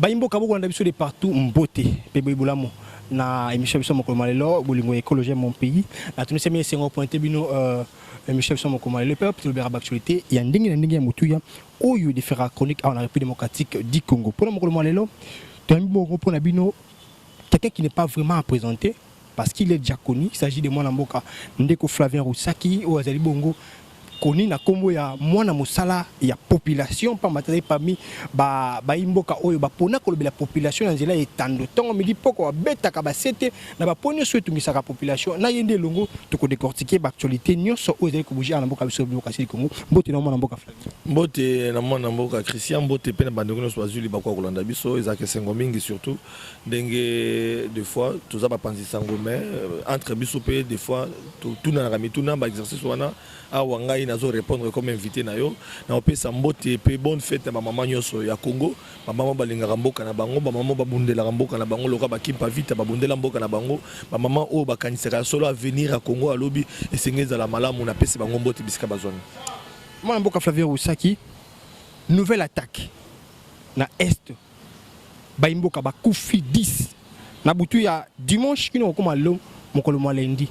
bayimboka bokolanda biso de partout mbote mpe boye bolamu na émission biso mokolo ma lelo bolingo ya ekologie ya mon pays natunisami esengo pointe bino euh, émission biso mokolo ma lelo mpe tolobelaka baactualité ya ndenge na ndenge ya motuya oyo difera chronique awa na république démocratique du congo mpona mokolo ma lelo Toyambi boko pona bino quelqu'un qui n'est pas vraiment à présenter parce qu'il est déjà connu, il s'agit de mwana mboka ndeko Flavien Roussaki oyo azali bongo koni na kombo ya mwana mosala ya population pamba tazali parmi ba bayi mboka oyo bapona kolobela population na nzela ya etando ntongo midi poko babetaka basete na bapo nyonso oyo etungisaka population na ye nde elongo tokodecortike baactualité nyonso oyo ezali kobouge awa na mboka biso bokasili kongo mbote na mwana mboka mbote na mwana mboka christian mbote mpe na bandeko nyonso bazwi libaku ya kolanda biso ezalaka esengo mingi surtout ndenge de fois toza bapanzi sango mais euh, entre biso mpe de fois totunanaka mituna baexercice wana awa ngai nazo répondre comme invité na yo naopesa mbote mpe bonne fête ya bamama nyonso ya congo bamama balingaka mboka na bango bamama babundelaka mboka na bango lokola bakimpa vita babundela mboka na bango bamama oyo bakanisaka solo avenir ya congo alobi esenge ezala malamu napesi bango mbote bisika bazwami Mwana mboka Flavien Rusaki, nouvelle attaque na est bayi mboka bakufi 10 na butu ya dimanche kino kokoma lelo mokolo mwa lundi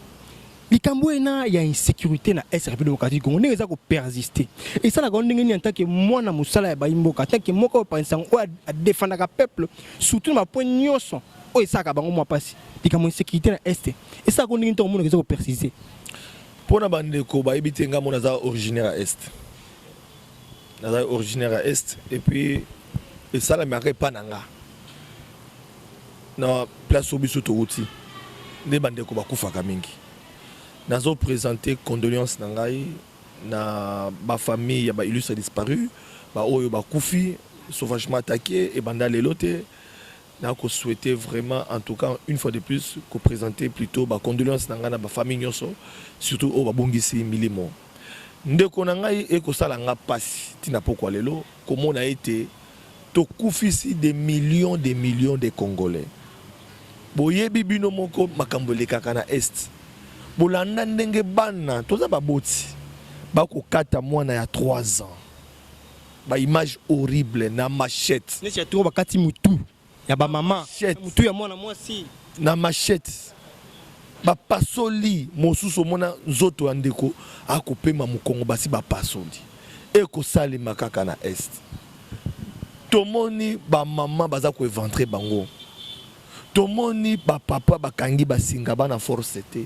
likambo ena ya insécurité na est république démocratique du congo ndenge eza kopersiste esalaka ndenge nini antake mwana mosala ya bayi mboka antake moko oyo panisa yango oyo adefandaka peuple surtout na bapoint nyonso oyo esalaka bango mwa mpasi likambo insécurité na est esalaka ndenge nini ntango omonaka eza kopersiste Pona ba ndeko ba yebi te nga mo naza originaire ya est. Naza originaire ya est et puis esala mi aka epa na nga. Na place oyo biso towuti nde ba ndeko bakufaka mingi. Nazo presenter condoleances na ngai na ba famille ya ba illustres disparus ba oyo bakufi sauvagement attaquer ebanda lelo te. Na ko souhaiter vraiment en tout cas une fois de plus ko presenter plutot ba condoleances na ngai na ba famille nionso surtout oyo ba bungisi milimo ndeko na ngai. Eko sala nga pasi ti na pokwa lelo ko mona ete to kufisi des millions des millions des congolais. Bo yebi bino moko makambo elekaka na Est. Bo landa ndenge bana, toza ba boti, ba ko kata mwana ya trois ans. Ba image horrible na machette. Neti ya tour bakati mutu ya ba mama. Mutu ya mwana mwasi. Na machette. Ba pasoli mosusu mona nzoto ya ndeko akopema mukongo basi ba pasoli. Eko salema kaka na est. Tomoni ba mama baza ko eventre bango. Tomoni ba papa bakangi basinga bana force te.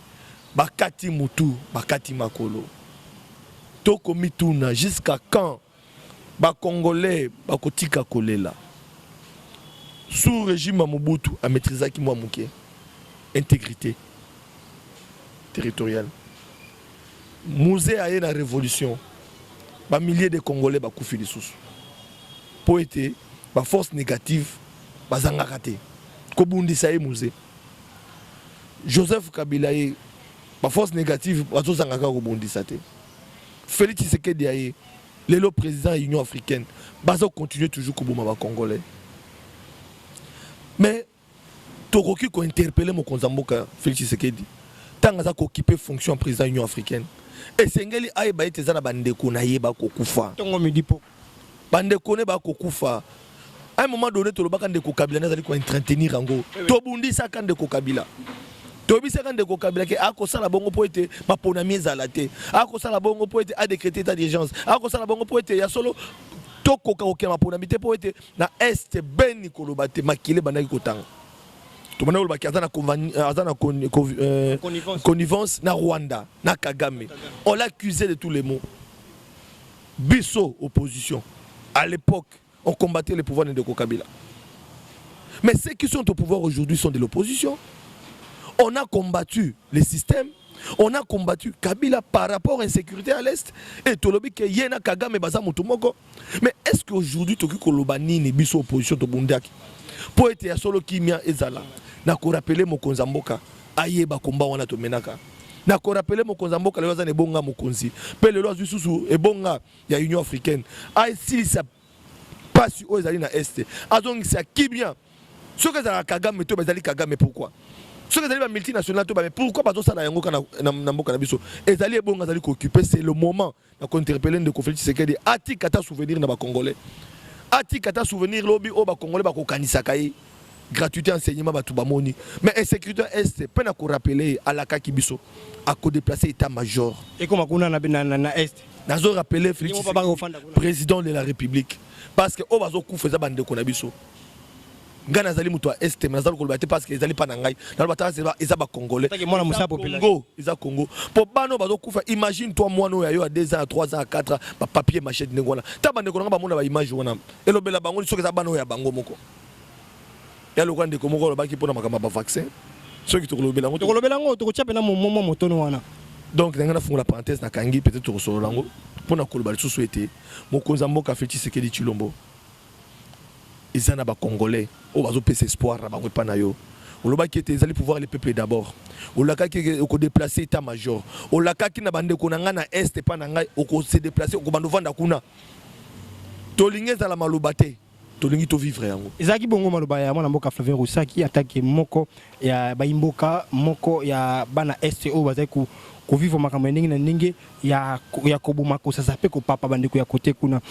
Bakati mutu, bakati makolo. To komituna jusqu'à quand ba congolais bakotika kolela. Sous regime ya Mobutu a maitrisaki mwa muke integrite territoriale. Muze aye na revolution ba milliers de congolais bakufi lisusu mpo ete ba force négative bazangaka te kobundisa ye muze. Joseph Kabila ye ba force négative bazozanga kaka kobondisa te Félix Tshisekedi aye lelo président ya Union africaine bazo continuer toujours koboma ba congolais mais tokoki kointerpele mokonzi ya mboka Félix Tshisekedi ntango aza kokipe fonction ya président ya Union africaine esengeli ayeba ete eza na bandeko na ye bakokufa ntongo midi poko bandeko ne bakokufa un moment donné tolobaka ndeko kabila nde azali koentretenir yango eh tobundisaka ndeko kabila toyebisaka ndeko kabila ke akosala bongo mpo ete maponami ezala te akosala bongo mpo ete adecrete etat d'urgence akosala bongo mpo ete ya solo tokoka kokela maponami te mpo ete na este beni koloba te makili ebandaki kotanga tobanda koloba ke aza na euh, euh, connivence na rwanda na kagame on l'accuse de tous les mots Biso opposition à l'époque on combattait le pouvoir de Ndeko Kabila. Mais ceux qui sont au pouvoir aujourd'hui sont de l'opposition. On a combattu le système, on a combattu Kabila par rapport à l'insécurité à l'Est et Tolobi que Yena Kagame Baza Mutumoko. Mais est-ce qu'aujourd'hui Toki Koloba Nini Biso opposition Tobundaki Poete ya solo kimia ezala na ko rappeler mokonza mboka ayeba combat wana tomenaka na korapele mokonzi ya mboka lelo aza na ebonga mokonzi mpe lelo azwi susu ebonga ya union africaine asilisa mpasi oyo ezali na este azongisa kibia soki ezalaka kagame to bazali kagame pourkui soki ezali bamultinational to bame pourkui bazosala yango kaka na mboka na biso ezali ebonga azali koocupe c'est le moment na ko interpeller ndeko Felix Tshisekedi atika ata souvenir na ba congolais atika ata souvenir lobi oyo ba congolais bakokanisaka ye gratuité enseignement bato bamoni mais insécurité est mpe na korapele ye alakaki biso akodeplace état major ekoma kuna na, na, na, na est nazo rapele félix président de la république parce que oyo bazokufa eza bandeko na biso ngai nazali moto ya este mais nazali koloba te parce que ezali pa na ngai naloba ta eza bacongolais congo eza congo mpo bana oyo bazokufa imagine toi mwana oyo ayo ya 2 ans ya 3 ans ya 4 ans bapapier machete ndenge wana ta bandeko na ngai bamona baimage wana elobela bango soki eza bana oyo ya bango moko ya lokola ndeko moko alobaki mpo na makambo ya bavaccin soki tokolobela yango tokolobela yango tokotya mpena momoma motono wana donc na ngai nafungola parenthèse nakangi peut-être tokosolola yango mpo na koloba lisusu ete mokonzi ya mboka feti sekedi chilombo eza na ba congolais oyo bazo pesa espoir na bango epa na yo olobaki ete ezali pouvoir le peuple d'abord olakaki eke oko deplacer etat major olakaki na bandeko na ngai na est epa na ngai oko se deplacer okobanda ovanda kuna tolingi ezala maloba te tolingi to vivre yango ezalaki bongo maloba ya mwana mboka Flavien Rusaki atake moko ya bayimboka moko ya bana est oyo bazali ku kovivre makambo ya ndenge na ndenge ya, ya koboma kosasa mpe kopapa bandeko ya kote kuna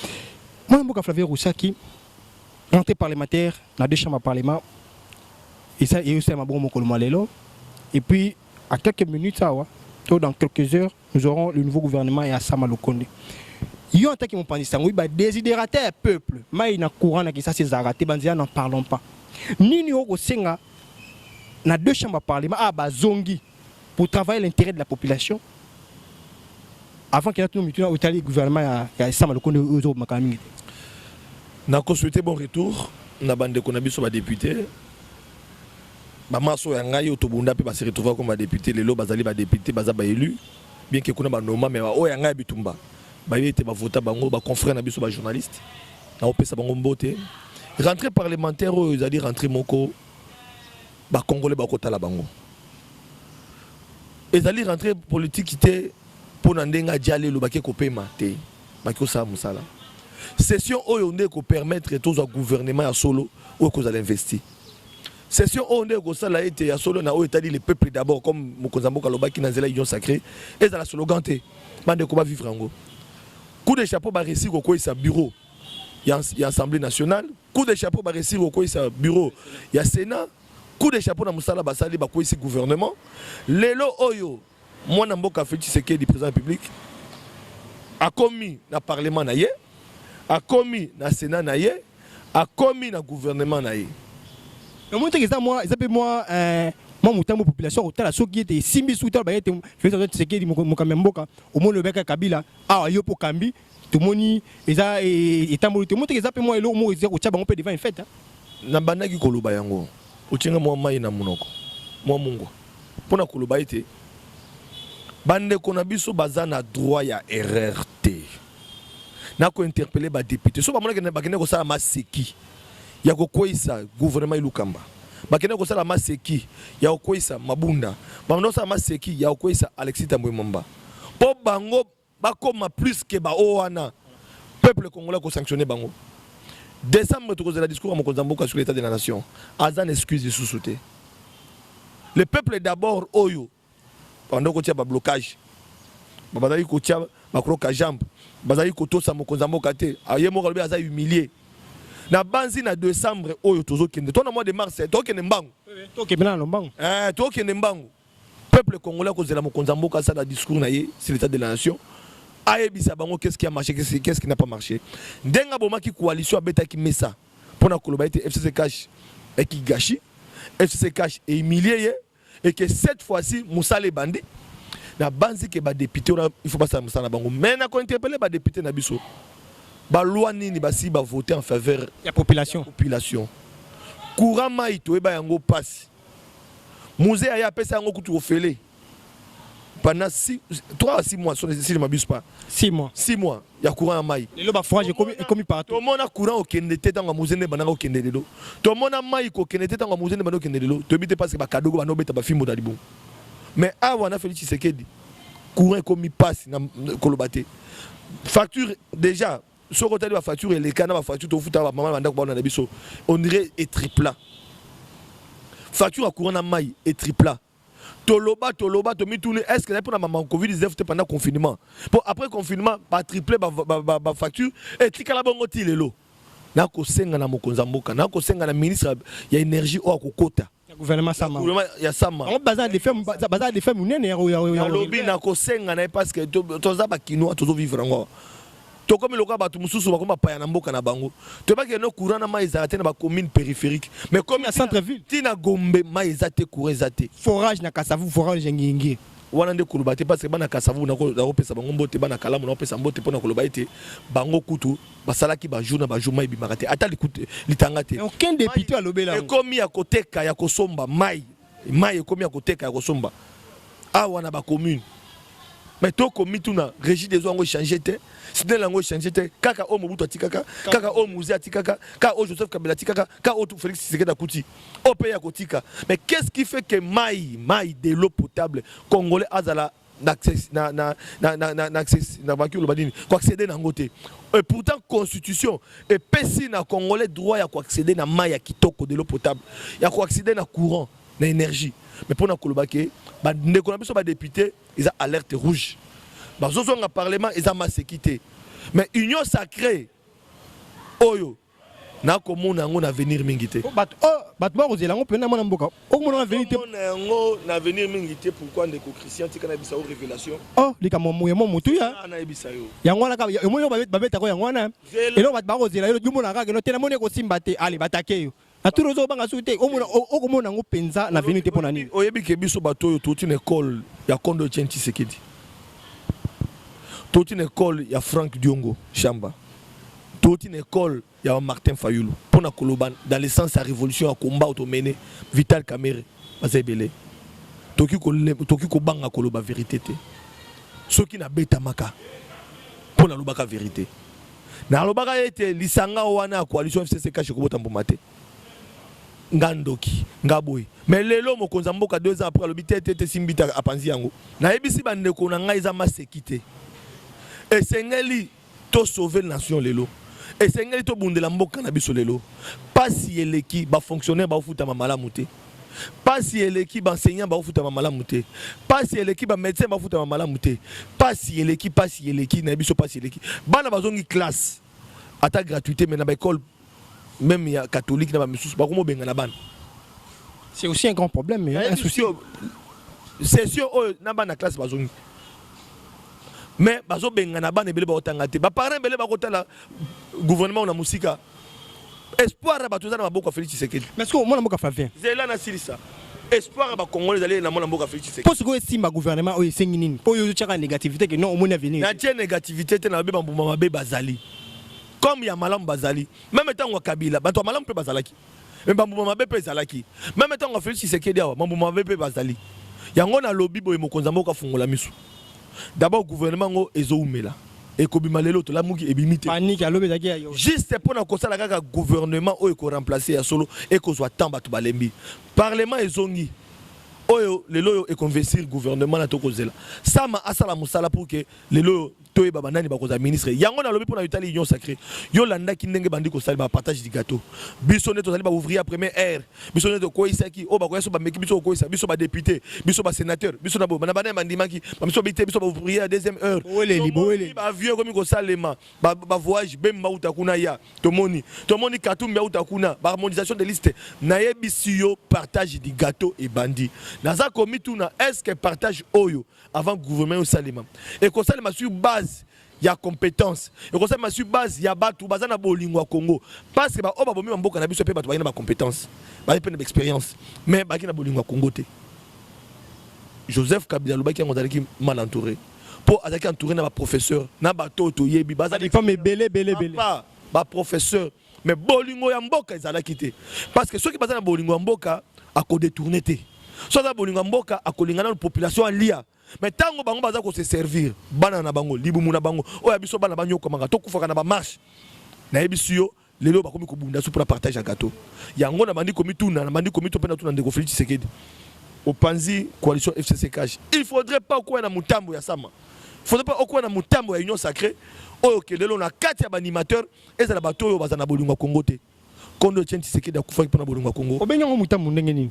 Mwana mboka Flavien Rusaki, monté parlementaire na deux chambres parlement, et ça, et aussi à Mabon Mokolomolelo. Et puis, à quelques minutes, awa, to dans quelques heures, nous aurons le nouveau gouvernement et Assama Lokonde. Yo, en tant que mon panistan, oui, bah, désidérateur ya peuple, maï na courant na kisa ses arrêtés, banzia n'en parlons pas. Nini oko senga na deux chambres parlement, ah, bah, zongi. pour travailler l'intérêt de la population avant qu'il y ait tout mituna otali gouvernement ya ya sama lokondo ozo makala mingi na ko souhaiter bon retour na bande ko na biso ba députés ba maso ya ngai otobunda pe ba se retrouver comme ba députés lelo bazali ba députés baza ba élus bien que kuna ba noma mais ba oya ngai bitumba ba yete ba vota bango ba confrères na biso ba journalistes na opesa bango mbote rentrée parlementaire oyo ezali rentrée moko Ba congolais ba kotala bango. Ezali rentrée politique te mpo na ndenge ajalelo bake kopema te bake kosala mosala. Session oyo nde ekopermettre tozwa gouvernement ya solo oyo ekozala investi. Session oyo nde ekosala ete ya solo na oyo etali le peuple d'abord comme mokonzi ya mboka alobaki na nzela union sacrée ezala slogan te bandeko ba vivre yango. Coup de chapeau ba réussir kokweyisa bureau ya, ya Assemblée nationale. Coup de chapeau ba réussir kokweyisa bureau ya Sénat. Coup de chapeau na mosala basali bakweyisi gouvernement. Lelo oyo mwana mboka Felix Tshisekedi président public akomi na parlement na ye, akomi na Sénat na ye, akomi na gouvernement na ye. Namoni teke eza mwa eza pe mwa eh, mwa motambo population akotala soki ete esimbi suki tala bayete Felix Antoine Tshisekedi moko- mokambi ya mboka omoni obeka Kabila awa yo mpo okambi tomoni eza etamboli tomoni teke eza mpe mwa eloko moko eza kotya bango mpe devant infete nabandaki koloba yango otyinga mwa mai na monoko mwa mungwa mpo na koloba ete bandeko na biso baza na droit ya erreur te na kointerpele badepute so bamonaki bakende kosala maseki ya kokweisa gouvernement elukamba bakende kosala maseki ya kokweisa mabunda bakende kosala maseki ya kokweisa alexis tambwe momba mpo bango Bakoma plus que ba o wana. Peuple congolais ko sanctionner bango. Décembre tokozela discours ya mokonzi ya mboka sur l'état de la nation. Aza na excuse lisusu te. Le peuple d'abord oyo banda kotia ba blocage. Babazali kotia ba croca jambe. Bazali kotosa mokonzi ya mboka te. Aye moko alobi aza humilié. na banzi na décembre oyo tozokende to na mois de mars tokende mbangu tokende mbangu eh, tokende mbangu Peuple congolais akozela mokonzi ya mboka asala discours na ye sur l'état de la nation ayebisa bango qu'est-ce qui a marché qu'est-ce qui n'a pas marché ndenge abomaki coalition abetaki mesa mpo na koloba ete FCC cash ekigashi FCC cash ehumilie ye et que cette fois-ci mosala ebandi na banzi ke badepute wana il faut basala mosala na bango mais na kointerpele badepute na biso baloi nini basi bavote en faveur ya population population courant mai toyeba yango mpasi Muze aya apesa yango kutu ofele pendant 6 3 à 6 mois si je ne m'abuse pas 6 mois 6 mois ya courant ya mai lelo ba forage ekomi ekomi partout tomona courant okende te ntango muze nde bandanga okende lelo tomona mai kokende te ntango muze nde banda okende lelo toyebi te parce que bakadogo banda obeta bafimbo na libumu mais awa na Félix Tshisekedi courant ekomi pasi na koloba te facture déjà soki otali ba facture eleka na ba facture tofuta ba mama ba ndako baona na biso on dirait et tripla facture ya courant na mai et tripla toloba toloba tomituni est ce que ezali mpona mama covid 19 te pendant confinement mpo après confinement batriple bafacture etikala bongo ti lelo nakosenga na mokonzi ya mboka nakosenga na ministre ya énergie oyo akokota ya gouvernement sama ya sama bango baza defe baza defe munene ya ya lobi na kosenga na parce que toza ba kinois tozo vivre ngo tokomi lokola bato mosusu bakomi bapaya na mboka na bango toyebaki eno courant na mai ezala te na bacommune périphérique mais comme na centre ville ti na gombe mai eza te courant eza te forage na kasavu forage ya ngiengie wana nde koloba te parce que bana kasavu nakopesa bango mbote bana kalamu nakopesa mbote mpo na koloba ete bango kutu basalaki ba jour na ba jour mai bimaka te ata litanga te aucun député alobela ekomi ya koteka ya kosomba mai mai ekomi ya koteka ya kosomba awa na ba commune mais to komi tuna régie des eaux yango échange te sidel yango échange te kaka oyo mobutu atikaka kaka oyo muze atikaka kaka oyo joseph kabila atikaka kaka oyo félix tshisekedi akuti oyo mpe ya kotika mais qu'est ce qui fait que mai mai de l'eau potable congolais azala na na na na na na na na baki oloba nini ko accéder na ngote et pourtant constitution et pesi na congolais droit ya ko accéder na mayi ya kitoko de l'eau potable ya ko accéder na courant na énergie mais pona koloba ke ba ndeko na biso ba député eza alerte rouge ba zozonga parlement eza maseki te mais union sacrée oyo nakomona yango na avenir mingi te bato oh, bakozela yango mpena mwana mboka okomona na avenir te yango na avenir mingi te pourkui ndeko christian tika nayebisa yo révélation oh likambo moye mo motuya ah, nayebisa yo yango wana kaka omoni yo babetako yango wana eloko bato bakozela yo omona kaka eno te namoni ekosimba te ale batake yo na turi ozobanga soki te okomona yango mpenza na avenir te mpo na nini oyebi ke biso bato oyo touti na ekole ya kondo etienne tshisekedi touti na ekole ya frank diongo shamba Touti na ecole ya ba Martin Fayulu pona koloba dans le sens ya revolution ya combat auto mene Vital Kamerhe baza ebele. Toki ko toki kobanga koloba verite te. Soki na betamaka pona lobaka verite. Na lobaka ete lisanga wana ya coalition FCC kashi kobota mbuma te. nga ndoki nga boye mais lelo mokonzi ya mboka deux ans après alobi te te te simbita apanzi yango nayebisi bandeko na ngai eza maseki te esengeli To sauver nation lelo. Esengeli to bundela mboka na biso lelo. Pasi eleki ba fonctionnaires ba ofutama malamu te. Pasi eleki ba enseignants ba ofutama malamu te. Pasi eleki ba médecins ba ofutama malamu te. Pasi eleki pasi eleki na biso pasi eleki. Bana bazongi classe ata gratuité mais na ba école meme ya catholique na ba misusu ba komo benga na bana c'est aussi un grand problème mais un souci c'est sûr oyo na bana classe bazongi mais bazo benga na bana ebele ba otanga te ba parents ebele ba kotala gouvernement na musika espoir ya bato eza na maboko ya Felix Tshisekedi mais sikoyo mwana mboka Flavien zela na silisa espoir ya bacongolais ezali na mwana mboka Felix Tshisekedi mpo sikoyo esimba gouvernement oyo esengi nini mpo oyo ozotyaka negativité ke non omoni avenir natie negativité te na babe bambuma mabe bazali comme ya malamu bazali meme ntango ya kabila bato ya malamu mpe bazalaki me bambuma mabe mpe ezalaki meme ntango ya felix tshisekedi awa bambuma mabe mpe bazali yango nalobi boye mokonzi ya mboka afungola miso dabord gouvernement yango ezoumela ekobima lelo tolamuki ebimi te panike alobi ezalaki ya yo juste mpo na kosala kaka gouvernement oyo ekoremplace ya solo ekozwa temps bato balembi parlement ezongi oyo lelo oyo ekonvestir gouvernement na tokozela sama asala mosala pour que lelo oyo toyeba banani bakozala ministre yango nalobi mpo na yotali union sacré yo landaki ndenge bandi kosali bapartage du gâteau biso nde tozali baouvrier ya première heure biso nde tokweisaki oyo bakoya so bameki biso kokweisa biso badepute biso basénateur biso na boye na bana bandimaki bamiso babi te biso baouvrier ya deuxième heure bavieux ekomi kosalema bavoyage bemba uta kuna ya tomoni tomoni katumbi auta kuna baharmonisation de liste nayebisi yo partage du gâteau ebandi naza komituna est ce que partage oyo avant gouvernement osalema ekosalema sur base ya compétence ekosalema sur base ya bato baza na bolingo ya congo parce que baoyo babomi bamboka na biso mpe bato baye na bacompétence baye mpe na baexpérience mais baki na bolingo ya congo te joseph kabila alobaki yango azalaki mal entouré mpo azalaki entouré na baprofesseur na bato oyo toyebi bazalipame ebele ebele ebele baprofesseur Mais bolingo ya mboka ezalaki te. Parce que soki baza na bolingo ya mboka, a ko détourner te. Soki aza bolingo ya mboka, a ko linga na population alia. Mais tango bango baza ko se servir, bana na bango, libumu na bango, oya biso bana ba nyokwamaka, to kufaka na ba marche. Na yebisi yo, lelo bakomi ko bunda su pour partage ya gâteau. Yango na bandi komi tuna, na bandi komi to pena tuna ndeko Felix Tshisekedi. Opanzi coalition FCC cash. Il faudrait pas quoi na mutambo ya sama. Il faudrait pas quoi na mutambo ya union sacrée. Oyo kelelo na kati ya ba animateurs Ezala bato oyo bazala na bolingo ya Congo te. Kondo Etienne Tshisekedi akufaki mpo na bolingo ya Congo. Obengi yango mutambu ndenge nini?